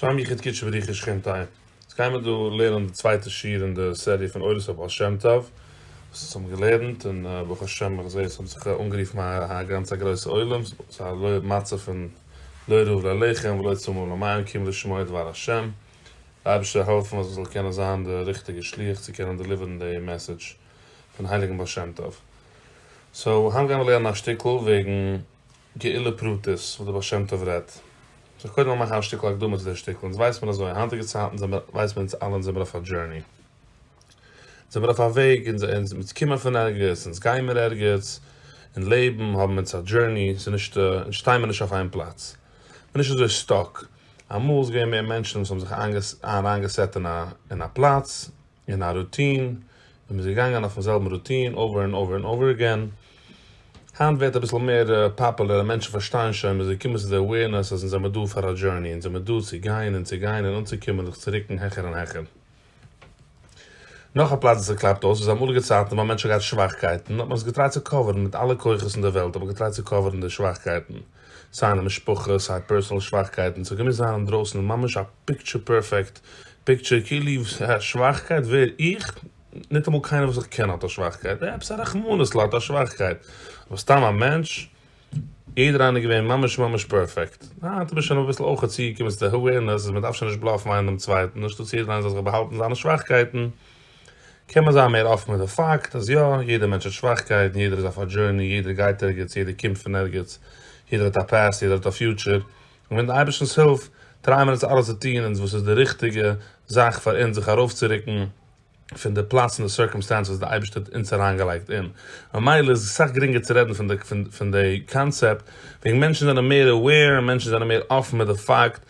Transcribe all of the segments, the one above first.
שלום יחיד קידשא בריך איש שכינתיי. אונז גיימער דא לערנען די צווייטע שיעור אין די סעריע פון אורות הבעל שם טוב, וואס אונז האבן געלערנט, און ברוך השם איך זעה עס האט זיך אנגערופן א גאנץ א גרויסע עולם, ס'איז א מצב פון לא ירעו לאלהיכם ולא יצומו למיהם כי אם לשמוע דבר השם, די אייבערשטער זאל העלפן אז איך זאל קענען זיין די ריכטיגע שליח צו קענען דעליווערן די מעסעדזש פון הייליגן בעל שם טוב. סאו היינט גיימער לערנען א שטיקל וועגן. גאולה פרטית וואס די בעל שם טוב רעדט זיך קודם מאכן א שטיקל הקדמה צו דער שטיקל אונז ווייס מיר אזוי היינטיגע צייטן זעמער ווייס מיר אונז אלע אונז זעמער אויף א דזשערני אונז זעמער אויף א וועג אונז אונז אונז קומען פון ערגעץ אונז גיימער ערגעץ און לעבן האבן אונז א דזשערני ס'איז נישט אונז שטיי מיר נישט אויף איין פלאץ מ'איז נישט אזוי סטאק אמאל איז געווען מער מענטשן וואס האבן זיך איינגעס אריינגעסעט אין א אין א פלאץ אין א רוטין, און מ'איז געגאנגען אויפן זעלבן רוטין אווער ענד אווער ענד אווער עגעין. היינט ווערט אביסל מער פאפולער און מענטשן פארשטייען שוין, מ'איז געקומען צו די אווערנעס אז אונז זעמיר דא פאר א דזשורני, אונז זעמיר דא צו גיין און צו גיין און אנצוקומען זיך צו רוקן העכער און העכער. נאך א פלאץ וואס עס קלאפט אויס איז אמאליגע צייטן ווען מענטשן האט געהאט שוואכקייטן האט מען עס געטרייט צו קאווערן מיט אלע כוחות אין די וועלט האט מען געטרייט צו קאווערן די שוואכקייטן, סיי אין די משפחה, סיי פערסאנעל שוואכקייטן, ס'האט געמוזט זיין אינדרויסן ממש א פיקטשער פערפעקט פיקטשער, כאילו א שוואכקייט, ווער איך? ניטאמאל קיינער וואס איך קען האט א שוואכקייט, עפעס א רחמנות'ל האט א שוואכקייט, אבער סתם א מענטש? יעדער איינער געווען ממש ממש פערפעקט, היינט איז מען שוין אביסל אויך צוגעקומען צו די אווערנעס אז מ'דארף שוין נישט בלאפן איינער דעם צווייטן, אנשטאטס יעדער איינער זאל זיך באהאלטן זיינע שוואכקייטן, קען מען זיין מער אפן מיט די פאקט אז יא, יעדער מענטש האט שוואכקייטן, יעדער איז אויף א דזשורני, יעדער גייט ערגעץ, יעדער קומט פון ערגעץ, יעדער האט א פאסט, יעדער האט א פיוטשער, און מיטן אייבערשטנ'ס הילף טרייען מיר דאס אלעס צו טון אונז וואס איז די ריכטיגע זאך פאר אונז זיך ארויפצורוקן פון די פלאץ און די סירקאמסטענס וואס די אייבערשטער האט אונז אריינגעלייגט אין, ממילא איז עס סאך גרינגער צו רעדן פון די קאנצעפט וועגן מענטשן זענען מער aware און מענטשן זענען מער אפן מיט די פאקט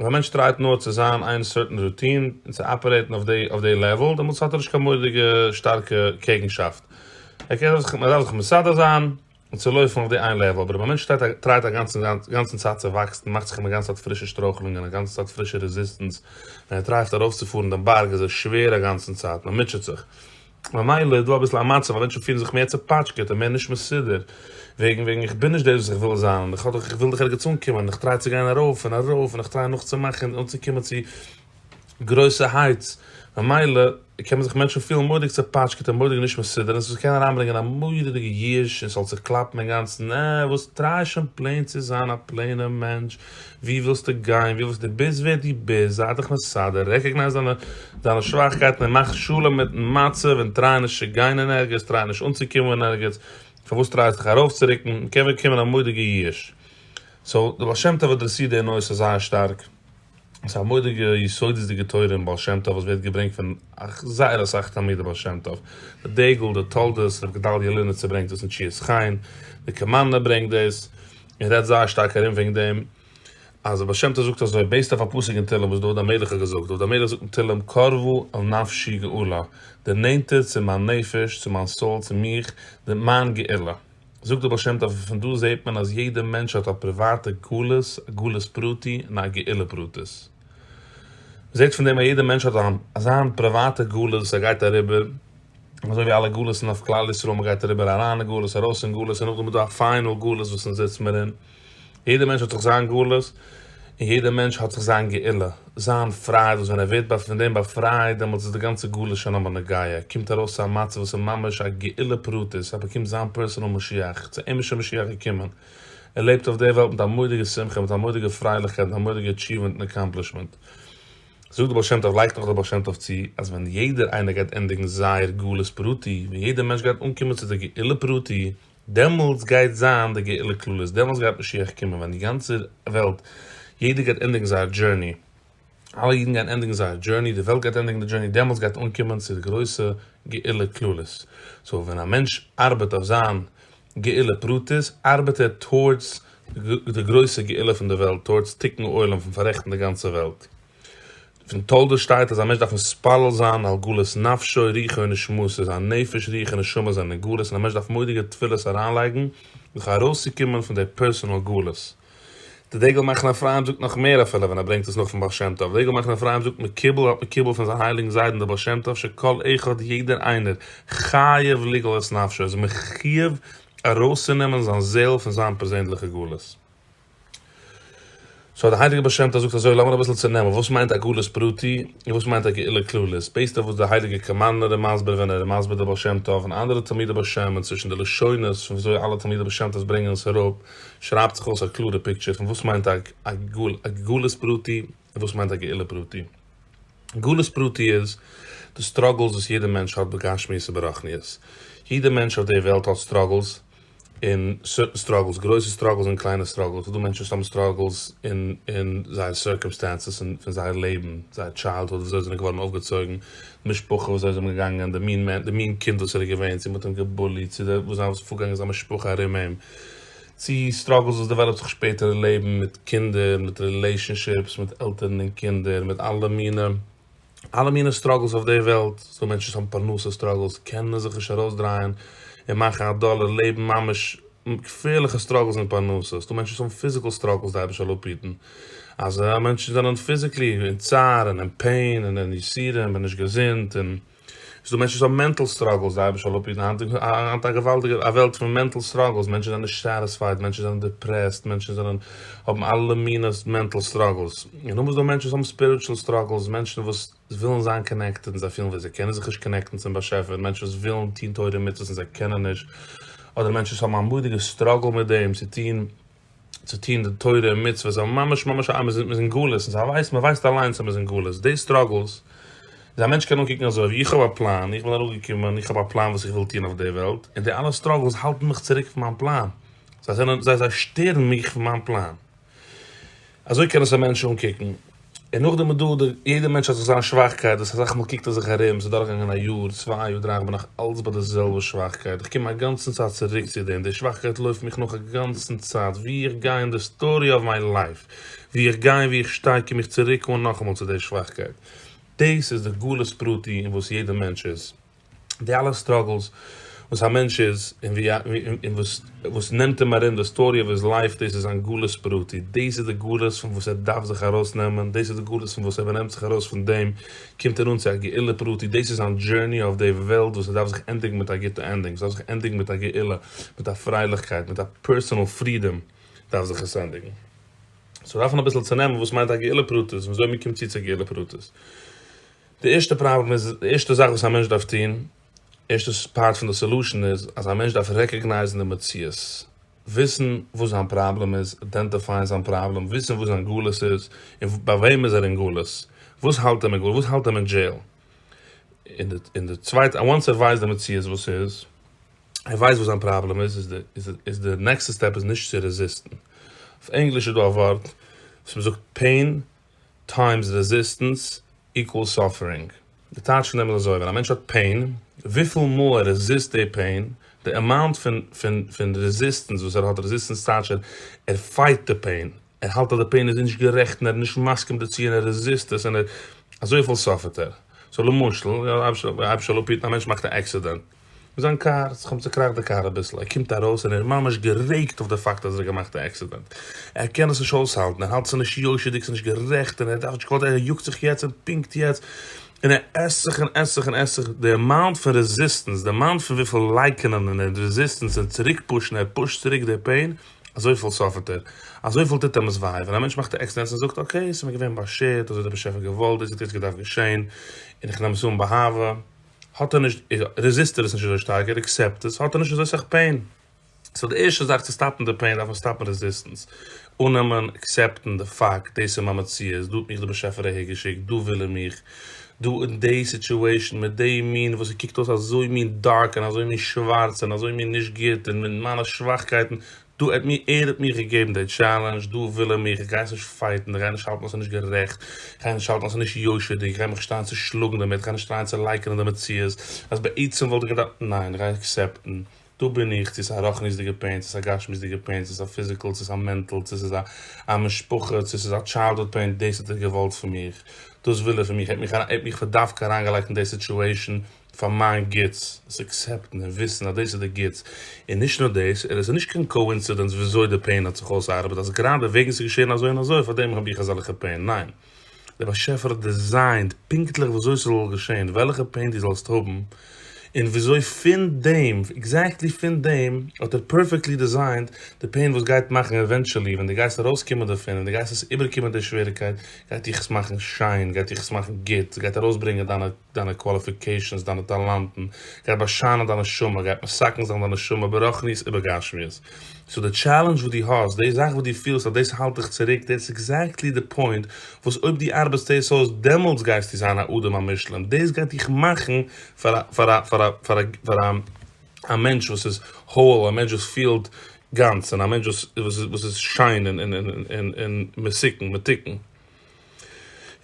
אויב א מענטש טרייט נאר צו זיין איין סערטען רוטין און צו אפערעיטן אויף די לעוועל דעמאלטס האט ער נישט קיין מורא'דיגע שטארקע קעגנשאפט, ער קען זיך מער אסאך מסדר זיין און צו לויפן אויף די איין לעוועל, אבער אויב א מענטש טרייט א גאנצן צייט צו וואקסן און מאכט זיך א גאנצע צייט פרישע שטרויכלונגען א גאנצע צייט פרישע רעזיסטענס ווען ער טרייט ארויפצופארן דעם בארג איז ער שווער א גאנצן צייט מען מוטשעט זיך. ממילא איז דא אביסל א מצב אז מענטשן פילן זיך מער צעפאטשקעט און מער נישט מסודר, וועגן וועגן איך בין נישט דאס וואס איך וויל זיין, און איך האב דאך איך וויל דאך ערגעץ אנקומען, און איך טריי צו גיין ארויף און ארויף, און איך טריי נאכצומאכן און אנצוקומען צו גרויסע הייטס, ממילא קען מען זיך מענטשן פילן מורא'דיג צעפאטשקעט און מורא'דיג נישט מסודר, און ס'זאל קענען אריינברענגען א מורא'דיגע ייאוש און ס'זאל זיך קלאפן אינגאנצן, אה, וואס טריי שוין פלעין צו זיין א פלעינער מענטש, ווי ווילסטו גיין, ווי ווילסט דו ביסט ווער דו ביסט, זיי דיך מסדר, רעקאגנייז דיינע דיינע שוואכקייטן און מאך שלום מיטן מצב און טריי נישט צו גיין אין ערגעץ, טריי נישט אנצוקומען אין ערגעץ, פארוואס טרייסטו זיך ארויפצורוקן, מען קען באקומען א מודיגע ייאוש. סאו די בעל שם טוב אדרעסירט די נושא זייער שטארק, ס'איז א מודיגע יסודות'דיגע תורה אין בעל שם טוב וואס ווערט געברענגט פון זייער אסאך תלמידי בעל שם טוב, די דגל, די תולדות, ר' גדלי' לינעצער ברענגט דאס אין תשיעית חיין, די קאמארנא ברענגט דאס, מען רעדט זייער שטארק ארום וועגן דעם אז הבעל שם טוב זאגט אזוי בעיסד אויף א פסוק אין תהלים וואס דוד המלך האט געזאגט, דוד המלך זאגט אין תהלים קרבו אל נפשי גאולה, דער נענטער צו מיין נפש, צו מיין סאול, צו מיך, נעמט מיין גאולה. זאגט דער בעל שם טוב אז פון דא זעט מען אז יעדער מענטש האט א פריוואטע גלות, א גלות פרטי און א גאולה פרטית. מען זעט פון דעם אז יעדער מענטש האט זיין פריוואטע גלות וואס ער גייט אריבער. אזוי ווי אלע גלות'ן אויף כלל ישראל, מען גייט אריבער אריין אין גלות, ארויס אין גלות, און נאכדעם איז דא א פיינעל גלות וואס אונז זיץ מיר אין, יעדער מענטש האט זיך זיין גלות, און יעדער מענטש האט זיך זיין גאולה, זיין פרייד, וואס ווען ער ווערט פון דעם באפרייט, דעמאלטס איז די גאנצע גלות שוין אמאל נגיה, ער קומט ארויס צו א מצב וואס איז ממש א גאולה פרטית, ער באקומט זיין פערסענעל משיח, צו אים איז שוין משיח געקומען, ער לעבט אויף דער וועלט מיט א מורא'דיגע שמחה, מיט א מורא'דיגע פרייליכקייט, מיט א מורא'דיגע עטשיווענט און עקאמפלישמענט. זאגט דער בעל שם טוב, לייגט נאך דער בעל שם טוב צו, אז ווען יעדער איינער גייט ענדיגן זייער גלות פרטי, ווען יעדער מענטש גייט אנקומען צו דער גאולה פרטי, דעמאלטס גייט זיין די גאולה כללית, דעמאלטס גייט משיח קומען, ווען די גאנצע וועלט, יעדער גייט ענדיגן זייער דזשורני, אלע אידן גייען ענדיגן זייער דזשורני, די וועלט גייט ענדיגן די דזשורני, דעמאלטס גייט אנקומען צו די גרויסע גאולה כללית. סאו ווען א מענטש ארבעט אויף זיין גאולה פרטית, ארבעט ער טאורדס די גרויסע גאולה פון די וועלט, טאורדס תיקון עולם פון פאררעכטן די גאנצע וועלט. פון תולדות שטייט אז א מענטש דארף מתפלל זיין על גאולת נפשו רוחו ונשמתו, זיין נפש רוח און נשמה זענען אין גלות און א מענטש דארף מודיגע תפילות אריינלייגן זיך ארויסצוקומען פון די פערסאנעל גלות. די דגל מחנה אפרים זאגט נאך מער אפילו ווען ער ברענגט עס נאך פון בעל שם טוב, דגל מחנה אפרים זאגט מקובל האט מקובל פון זיין הייליגן זיידן דער בעל שם טוב שכל אחד יעדער איינער חייב לגאול את נפשו איז מחיוב ארויסצונעמען זיין זעהל פון זיין פערזענדליכע גלות. סאו דער הייליגער בעל שם טוב זאגט אזוי לאמיר אביסל צונעמען וואס מיינט א גלות פרטי און וואס מיינט א גאולה כללית בעיסד אויף וואס דער הייליגער קאמארנער איז מסביר ווען ער איז מסביר דער בעל שם טוב און אנדערע תלמידי בעל שם און צווישן די לשונות פון וויאזוי אלע תלמידי בעל שם טוב ברענגען עס אראפ שרייבט זיך אויס א קלארע פיקטשער פון וואס מיינט א גלות פרטי און וואס מיינט א גאולה פרטי. גלות פרטי איז די סטראגעלס וואס יעדע מענטש האט בגשמיות און ברחניות. יעדע מענטש אויף דער וועלט האט סטראגעלס און סוירטן סטראגעלס, גרויסע סטראגעלס און קליינע סטראגעלס. ס'איז דא מענטשן וואס האבן סטראגעלס אין אין זייער סירקעמסטענסעס פון זייער לעבן, זייער טשיילדהוד, וויאזוי זיי זענען געווארן אויפגעצויגן, די משפחה וואס זיי זענען געגאנגען, די מין קינד וואס ער איז געווען, צו מ'האט אים געבוליט, צו וואס זיי האבן פארגאנגען אין זיין משפחה ארום אים. צי סטראגלס וואס דעוועלאפט זיך שפעטער אין לעבן מיט קינדער, מיט רילעישאנשיפס, מיט עלטערן און קינדער, מיט אלע מינע אלע מינע סטראגלס אויף די וועלט, ס'דא מענטשן וואס האבן פרנסה סטראגלס, קענען זיך נישט ארויסדרייען און מאכן א דאלער, לעבן ממש געפערליכע סטראגלס אין פרנסה, ס'דא מענטשן וואס האבן פיזיקעל סטראגלס, די אייבערשטער זאל אפהיטן אז מענטשן זענען פיזיקלי אין צער און אין פעין און אין יסורים און נישט געזונט און. ס'איז דא מענטשן וואס האבן מענטל סטראגלס, זיי האבן שוין אפגעגעבן, היינט איז א געוואלדיגע א וועלט פון מענטל סטראגלס, מענטשן זענען נישט סעטיספייד, מענטשן זענען דיפרעסט, מענטשן זענען האבן אלע מיני מענטל סטראגלס, און נאכדעם איז דא מענטשן וואס האבן ספיריטשול סטראגלס, מענטשן וואס ווילן זיין קאנעקטעד און זיי פילן ווי זיי קענען זיך נישט קאנעקטן צום באשעפער, מענטשן וואס ווילן טון תורה ומצוות און זיי קענען נישט, אדער מענטשן וואס האבן א מורא'דיגע סטראגל מיט דעם צו טון צו טון די תורה און מצוות, זיי האבן ממש ממש א, מיר זענען אין גלות, און זיי ווייסן, מען ווייסט אליינס אז מען איז אין גלות, די סטראגלס, איז א מענטש קען אנקוקן אזוי, ווי איך האב א פלאן, איך בין אראפגעקומען, איך האב א פלאן וואס איך וויל טון אויף די וועלט, און די אלע סטראגלס האלטן מיך צוריק פון מיין פלאן, זיי זענען, זיי זיי שטערן מיך פון מיין פלאן. אזוי קען עס א מענטש אנקוקן. און נאכדעם איז דא די, יעדע מענטש האט זיך זיין שוואכקייט, דאס אסאך מאל קוקט ער זיך ארום, ס'איז דורכגעגאנגען א יאר, צוויי יאר, דריי, איך בין נאך אלץ ביי די זעלבע שוואכקייט, איך קום אגאנצן צייט צוריק צו דעם, די שוואכקייט לויפט מיך נאך אגאנצן צייט, ווי איך גיי אין די סטארי אוו מיי לייף, ווי איך גיי און ווי איך שטיי קום איך צוריק אן נאכאמאל צו די שוואכקייט, דאס איז די גלות פרטי אין וואס יעדע מענטש איז. די אלע סטראגלס וואס א מענטש איז און ווי און וואס וואס נעמט אים ארום די סטארי אוו היז לייף דאס איז זיין גלות פרטי דאס איז די גלות פון וואס ער דארף זיך ארויס נעמען דאס איז די גלות פון וואס אויב ער נעמט זיך ארויס פון דעם קומט ער אן צו א גאולה פרטי דאס איז זיין דזשורני אויף די וועלט וואס עס דארף זיך ענדיגן מיט א גוטע ענדינג עס דארף זיך ענדיגן מיט א גאולה מיט א פרייליכקייט מיט א פערסאנעל פרידאם דארף זיך עס ענדיגן סאו דארף מען אביסל צונעמען וואס מיינט א גאולה פרטית און וויאזוי מען קומט צו צו גאולה פרטית. די ערשטע פראבלעם איז, די ערשטע זאך וואס א מענטש דארף טון, ערשטע פארט פון די סעלושען איז, אז א מענטש דארף רעקאגנייזן די מציאות, וויסן וואס זיין פראבלעם איז, איידענטיפייען זיין פראבלעם, וויסן וואס זיין גלות איז, און ביי וועם איז ער אין גלות, וואס האלט אים אין גלות, וואס האלט אים אין דזשעיל, און די צווייטע, אוואנס ער ווייסט די מציאות וואס ס'איז, ער ווייסט וואס זיין פראבלעם איז, איז די נעקסטע סטעפ איז נישט צו רעזיסטן, אויף ענגליש איז דא א ווארט וואס מ'זאגט, פעין. טיימס רעזיסטענס איקוועלס סאפערינג. די טייטש פון דעם איז אזוי, ווען א מענטש האט פעין, וויפיל מאל ער רעזיסט די פעין, די אמאונט פון פון פון רעזיסטענס וואס ער האט, רעזיסטענס טייטש ער ער פייט די פעין, ער האלט אז די פעין איז נישט גערעכט און ער איז נישט מסכים דערצו און ער רעזיסט עס און ער אזויפיל סאפערט ער. סאו למשל, אייביג א מענטש מאכט א עקסידענט, זיין קאר, ס'האט זיך אים צוקראכט די קאר אביסל, ער קומט ארויס און ער איז ממש גערעגט אויף די פאקט אז ער האט געמאכט א עקסידענט, ער קען עס נישט אויסהאלטן, ער האלט ס'איז נישט יושר'דיג, ס'איז נישט גערעכט, און ער דארף נישט געוואלט, ער יאגט זיך יעצט און פונקט יעצט, און ער עסט זיך און עסט זיך און עסט זיך, די אמאונט פון רעזיסטענס, די אמאונט פון וויפיל לייקענען און רעזיסטענס און צוריק פושן, ער פושט צוריק די פעין, אזויפיל סאפערט ער, אזויפיל טוט אים עס וויי, ווען א מענטש מאכט א עקסידענט און זאגט אקעי, ס'איז מיר געווען באשערט, אזוי האט דער באשעפער געוואלט, דאס האט יעצט געדארפט געשען, און איך נעם עס אן באהבה. האט ער נישט רעזיסט ער עס נישט אזוי שטארק ער עקסעפט עס האט ער נישט אזוי סאך פעין סאו די ערשטע זאך צו סטאפן די פעין דארף מען סטאפן רעזיסטענס אננעמען עקסעפטן די פאקט דאס איז מיין מציאות דא האט מיך די באשעפער אהער געשיקט דא וויל ער מיך דא אין די סיטואשען מיט די מין וואס עס קוקט אויס אזוי מין דארק און אזוי מין שווארץ און אזוי מין נישט גוט און מיט מיינע שוואכקייטן דא האט מיר ער האט מיר געגעבן די טשעלענדזש, דא וויל ער מיך, איך גיי עס נישט פייטן, איך גיי נישט האלטן אז עס איז נישט גערעכט, איך גיי נישט האלטן אז עס איז נישט יושר'דיג, איך גיי מיך נישט טרייען צו שלאגן דערמיט, איך גיי נישט טרייען צו לייקענען די מציאות אז בעצם וואלט איך געדארפט, ניין, איך גיי עקסעפטן, דא בין איך, צו עס איז א רוחניות'דיגע פעין, צו עס איז א גשמיות'דיגע פעין, צו עס איז א פיזיקעל, צו עס איז א מענטעל, צו עס איז א משפחה, צו עס איז א טשיילדהוד פעין, דאס האט ער געוואלט פון מיך, דאס וויל ער פון מיך, ער האט מיך פאר דווקא אריינגעלייגט אין די סיטועשאן, פאר מיין גוטס, עס אקסעפטן און וויסן אז דאס איז די גוטס, און נישט נאר דאס, ער איז נישט קיין קאואינסידענס וויאזוי די פעין האט זיך אויסארבעט אז גראדע וועגן ס'איז געשען אזוי און אזוי פאר דעם האב איך אזעלכע פעין, ניין, דער באשעפער האט דיזיינד פונקטליך וויאזוי ס'זאל געשען, וועלכע פעין דו זאלסט האבן, און וויאזוי פון דעם, עקזעקטלי פון דעם, האט ער פערפעקטלי דיזיינד די פעין וואס גייט מאכן עווענטשעלי ווען דו גייסט ארויסקומען דערפון און דו גייסט עס איבערקומען די שוועריקייט גייט דיך עס מאכן שיין, גייט דיך עס מאכן גוט, עס גייט ארויסברענגען דיינע. דיינע קוואליפיקעישאנס, דיינע טאלאנטן, גייט באשיינען דיין נשמה, גייט מסכן זיין דיין נשמה ברחניות ובגשמיות. סאו די טשעלענדזש וואס דו האסט, די זאך וואס דו פילסט אז דאס האלט דיך צוריק, דעטס עקזעקטלי די פוינט וואס אויב דו ארבעסט עס אויס, דעמאלטס גייסטו זיין א אדם המושלם, דאס גייט דיך מאכן פאר א מענטש וואס איז whole, א מענטש וואס פילט גאנץ, און א מענטש וואס איז שיין און מסוכן, מתוקן.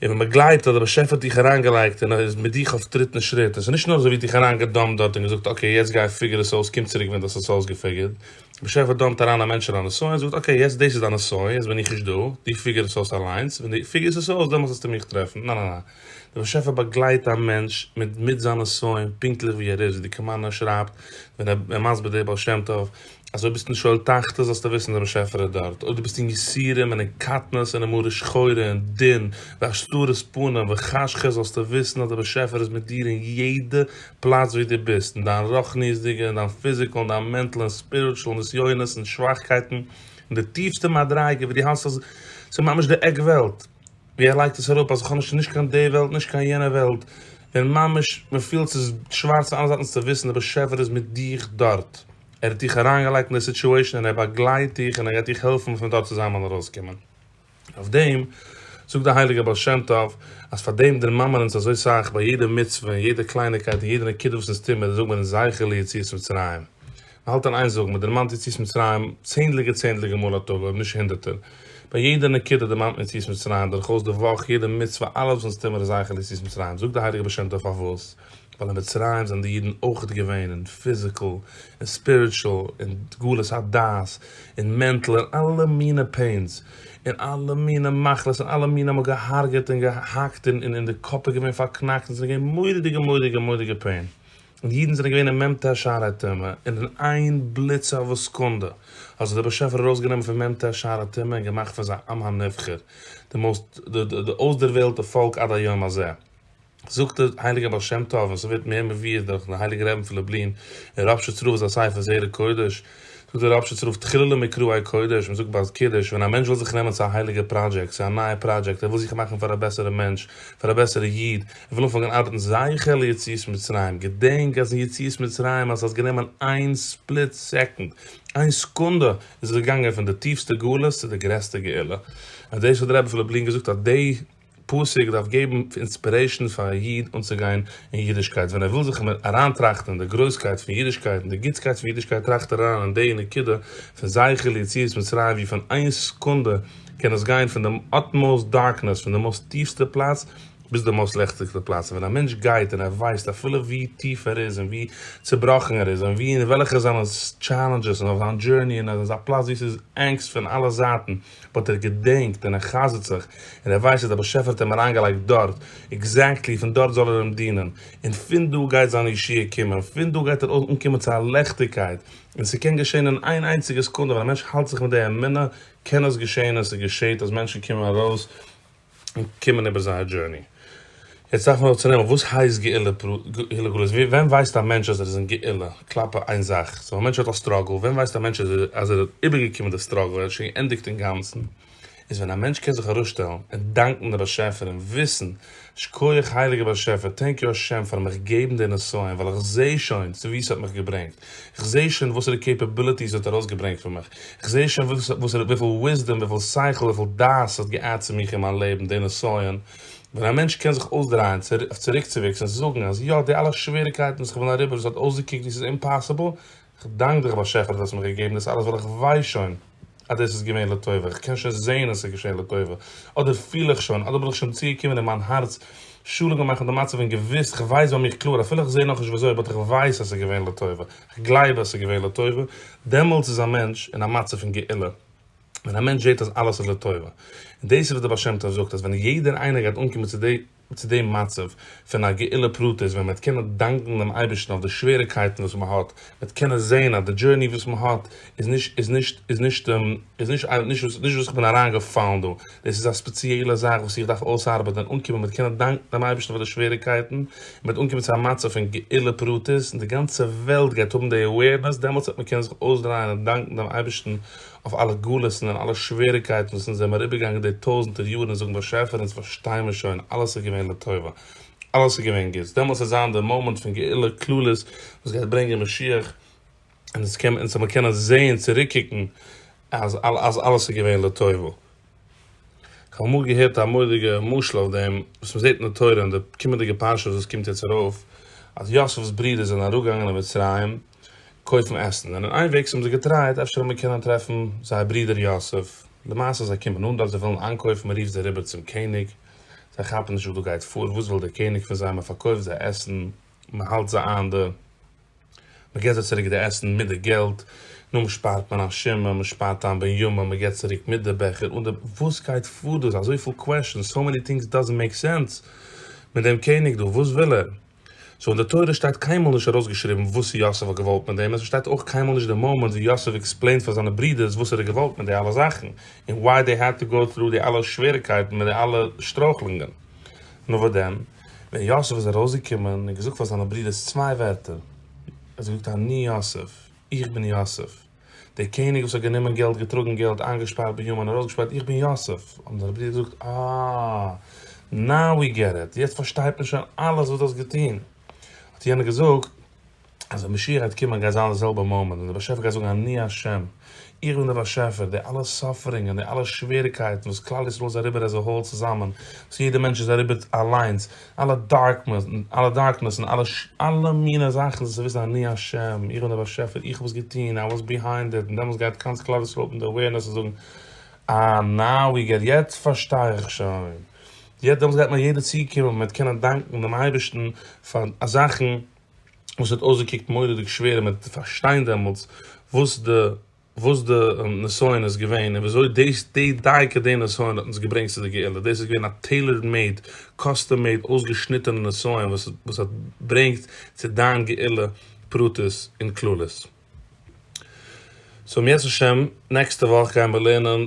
און ווען מען גלייבט אז דער באשעפער האט דיך אריינגעלייגט און ער איז מיט דיך אויף טריט און שריט, און עס איז נישט נאר אזוי ווי דיך אריינגעדאמפט דארט און געזאגט אקעי יעצט גיי פיגור עס אויס קום צוריק ווען דו האסט עס אויסגעפיגורט, דער באשעפער דאמפט אריין א מענטש אין א נסיון און זאגט אקעי יעצט דאס איז דיין נסיון יעצט בין איך נישט דא, דו פיגור עס אויס אליינס, ווען דו פיגורסט עס אויס דעמאלטס וועסטו מיך טרעפן, ניין ניין ניין, דער באשעפער באגלייט א מענטש מיט מיט זיין נסיון פונקטליך ווי ער איז, ווי די קאמארנא שרייבט ווען ער איז מסביר די בעל שם טוב, אז אויב ביסטו אין שאול תחתית זאלסטו וויסן דער באשעפער איז דארט, אויב דו ביסט אין יסורים און אין קטנות און אין מרה שחורה און דין והסתרת פנים וחשכות זאלסטו וויסן אז דער באשעפער איז מיט דיר אין יעדע פלאץ ווי דו ביסט, אין דיין רוחניות'דיגע, אין דיין פיזיקעל, אין דיין מענטל, אין ספיריטשעל נסיונות, אין שוואכקייטן, אין די טיפסטע מדריגה ווי דו האלסט אז ס'איז ממש די עק וועלט, ווי ער לייגט עס אראפ אז איך האב נישט נישט קיין די וועלט נישט קיין יענע וועלט, און ממש מ'פילט ס'איז שווארץ פון אלע זייטן זאלסטו וויסן דער באשעפער איז מיט דיך דארט. ער האט דיך אריינגעלייגט אין די סיטועשן און ער באגלייט דיך און ער גייט דיך העלפן פון דארט צוזאמען ארויסקומען. אויף דעם זאגט דער הייליגער בעל שם טוב אז פאר דעם דערמאנמען אונז אזוי סאך ביי יעדע מצוה און יעדע קלייניקייט און יעדע נקודה וואס אונז טוהן מיר זאגט מען אונז זכר ליציאת מצרים. מען האלט אין איין זאגן מען דערמאנט יציאת מצרים צענדליגע צענדליגע מאל א טאג אויב נישט הונדערטער. ביי יעדע נקודה דערמאנט מען יציאת מצרים דורכאויס די וואך יעדע מצוה אלעס וואס אונז טוהן מיר איז זכר ליציאת מצרים זאגט דער הייליגער בעל שם טוב פארוואס? ווייל אין מצרים זענען די אידן אויכעט געווען אין פיזיקעל און ספיריטשעל און גלות הדעת און מענטל און אלע מינע פעינס און אלע מינע מחלות און אלע מינע מ'האט געהארגעט און געהאקט און און די קאפ איז געווען פארקנאקט און ס'איז געווען מוראדיגע מוראדיגע מוראדיגע פעין און די אידן זענען געווען אין מ ט שערי טומאה און אין איין בליץ אוו א סעקונדע האט זיך דער באשעפער ארויסגענומען פון מ ט שערי טומאה און געמאכט פון זיי עם הנבחר די מאוסט די אויסדערוועלטע פאלק עד היום הזה. זאגט דער הייליגער בעל שם טוב און ס'ווערט מער מבואר דורך דער הייליגער רבי פון לובלין אין ראפשיץ רב זיין ספר זרע קודש, זאגט דער ראפשיץ רב תחילה למקראי קודש, מען זאגט ביי קידוש ווען א מענטש וויל זיך נעמען צו א הייליגער פראדזשעקט, צו א נייע פראדזשעקט, ער וויל זיך מאכן פאר א בעסערע מענטש, פאר א בעסערע איד, ער וויל אנפאנגען ארבעטן זכה ליציאת מצרים, געדענק אז אין יציאת מצרים אז ס'האט גענומען איין ספליט סעקונד, איין סעקונדע, איז ער געגאנגען פון די טיפסטע גלות צו די גרעסטע גאולה, און דאס האט דער רבי פון לובלין געזאגט אז די. פסוק דארף געבן אינספירעישאן פאר א איד אנצוגיין אין אידישקייט, ווען ער וויל זיך מער אריינטראכטן אין די גרויסקייט פון אידישקייט און די גוטסקייט פון אידישקייט טראכט ער אריין אין די נקודה פון זכר ליציאת מצרים ווי פון איין סעקונדע קען עס גיין פון די אטמאוסט דארקנעס פון די מאסט טיפסטע פלאץ ביז די מאסט לעכטיגסטע פלאץ און ווען א מענטש גייט און ער ווייסט אפילו ווי טיף ער איז און ווי צובראכן ער איז און ווי און וועלכע זענען טשעלענדזשעס און אויף זיין דזשורני און ער איז אין א פלאץ ווי ס'איז ענגסט פון אלע זייטן באט ער געדענקט און ער חזר'ט זיך, און ער ווייסט אז דער באשעפער האט אים אריינגעלייגט דארט, עקזעקטלי פון דארט זאל ער אים דינען, און פון דא גייט זיין ישועה קומען, פון דא גייט ער אנקומען צו א ליכטיגקייט, און ס'קען געשען אין איין איינציגע סעקונדע, ווען א מענטש האלט זיך מיט די אמונה קען עס געשען און ס'געשעט אז מענטשן קומען ארויס, און קומען איבער זייער דזשורני. יעצט דארף מען אבער צונעמען וואס הייסט גאולה גלות, ווען ווייסט א מענטש אז ער איז אין גאולה כלפי איין זאך, סאו א מענטש האט א סטראגל, ווען ווייסט א מענטש אז ער האט איבערגעקומען די סטראגל, ער האט שוין געענדיגט אינגאנצן, איז ווען א מענטש קען זיך ארויסשטעלן און דאנקן דעם באשעפער און וויסן, שקויעך הייליגער באשעפער, טענק יו השם פארן מיך געבן די נסיון, ווייל איך זעה שוין צו וואו ס'האט מיך געברענגט. כ'זעה שוין וואסערע קעיפעביליטיס ער האט ארויסגעברענגט פון מיך, כ'זעה שוין וואסערע וויפיל וויסדאם, וויפיל שכל, וויפיל דעת ס'האט געאדט צו מיך אין מיין לעבן, די נסיון, ווען א מענטש קען זיך אויסדרייען, אויף צוריקצוויקס און זאגן אז יא, די אלע שוועריקייטן וואס כ'בין אריבער, עס האט אויסגעקוקט ווי ס'איז אומפאסיבל, כ'דאנק דיך באשעפער דו האסט מיר געגעבן דאס אלעס ווייל כ'ווייס שוין, אז דאס איז געווען לטובה, איך קען שוין זען אז עס איז געשען לטובה, אדער פיל איך שוין, אדער בין איך שוין צוגעקומען אין מיין הארץ שלום מאכן די מצב און געוויסט, איך ווייס ביי מיך קלאר, אפילו איך זע נאכנישט וויאזוי, באט איך ווייס אז עס איז געווען לטובה, איך גלייב אז עס איז געווען לטובה, דעמאלטס איז א מענטש אין א מצב פון גאולה, ווען א מענטש זעט אז אלעס איז לטובה. און דאס איז וואס דער בעל שם טוב זאגט, אז ווען יעדער איינער גייט אנקומען צו די. צו דעם מצב פון א גאולה פרטית ווען מ'וועט קענען דאנקן דעם אייבערשטן אויף די שוועריקייטן וואס מ'האט, מ'וועט קענען זען אז די דזשורני וואס מ'האט איז נישט איז נישט איז נישט איז נישט איי נישט וואס נישט וואס איך בין אריינגעפאלן דא, דאס איז א ספעציעלע זאך וואס איך דארף אויסארבעטן, אנקומען מיט קענען דאנקן דעם אייבערשטן פאר די שוועריקייטן, און מ'וועט אנקומען צו א מצב פון גאולה פרטית און די גאנצע וועלט גייט האבן די אווערנעס, דעמאלטס וועט מען קענען זיך אויסדרייען און דאנקן דעם אייבערשטן אויף אלע גלות'ן און אלע שוועריקייטן וואס אונז זעמער איבערגעגאנגען די טויזענטער יארן און זאגן באשעפער אונז פארשטיי מיר שוין אלעס איז געווען לטובה אלעס איז געווען גוטס דעמאלס וועט זיין די מאמענט פון גאולה כללית וואס גייט ברענגען משיח און אונז קען אונז זעמער קענען זעהן צוריקקוקן אז אז אלעס איז געווען לטובה. כ'האב אמאל געהערט א מורא'דיגע משל אויף דעם וואס מען זעהט אין די תורה אין די קומענדיגע פרשה וואס עס קומט יעצט ארויף אז יוסף'ס ברודער זענען אראפגעגאנגען אין מצרים, קויפן עסן, זענען איינוועגס האבן זיי געטרייעט אפשר וועט מען קענען טרעפן זייער ברודער יוסף, למעשה זיי קומען אן דארט זיי ווילן איינקויפן מען רופט זיי אריבער צום קעניג, זיי כאפן נישט וואס דא גייט פאר וואס וויל דער קעניג פון זיי מען פארקויפט זיי עסן מען האלט זיי איין די מען געט זיי צוריק די עסן מיט די געלט נאר שפארט מען א שמא מען שפארט איין בן יומא מען געט צוריק מיט די בעכער אן די וואס גייט פאר דא איז אזויפיל קוועשאנס סאו מעני טינגס דאזענט מעיק סענס מיט דעם קעניג דא וואס וויל ער. סאו אין די תורה שטייט קיינמאל נישט ארויסגעשריבן וואס יוסף האט געוואלט מיט דעם און ס'שטייט אויך קיינמאל נישט די מאמענט ווי יוסף עקספלעינט פאר זיינע ברודערס וואס ער האט געוואלט מיט די אלע זאכן און וואי דעי העד טו גאו טרו די אלע שוועריקייטן מיט די אלע שטרויכלונגען. נאר וואס דען ווען יוסף איז ארויסגעקומען און געזאגט פאר זיינע ברודערס צוויי ווערטער. ער האט געזאגט אני יוסף, איך בין יוסף. דער קעניג וואס האט גענומען געלט, געטראגן געלט, איינגעשפארט ביהמ ד און ארויסגעשפייט איך בין יוסף, האבן זיינע ברידער געזאגט, אה, נאו ווי געט איט, יעצט פארשטייט מען שוין אלעס וואס דו האסט געטון. האט יענער געזאגט, אז ווען משיח גייט קומען גייט זיין די זעלבע מאמענט ווען דער באשעפער גייט זאגן אני השם, איך בין דער באשעפער, די אלע סאפערינגען, די אלע שוועריקייטן וואס כלל ישראל איז אריבער עז א האול צוזאמען, וואס יעדער מענטש איז אריבער אליינס, אלע דארקנעס און אלע אלע מינע זאכן זיי וויסן אני השם, איך בין דער באשעפער, איך האב עס געטון, איי וואס ביהיינד איט, און דעמאלטס גייט גאנץ כלל ישראל אפן די אווערנעס און זאגן אה נאו ווי געט, יעצט פארשטיי איך שוין, יעצט דעמאלטס גייט מיר יעדער צוקומען און מ'וועט קענען דאנקן דעם אייבערשטן פאר זאכן וואס האט אויסגעקוקט מורא'דיג שווער און מ'וועט פארשטיין דעמאלטס וואס די וואס די נסיון איז געווען און וויאזוי דאס די דייקא די נסיון האט אונז געברענגט צו די גאולה, דאס איז געווען א טעילארד מעיד, קאסטום מעיד אויסגעשניטענע נסיון וואס וואס האט ברענגט צו דיין גאולה פרטית און כללית. סאו אם ירצה השם נעקסטע וואך גייען מיר לערנען.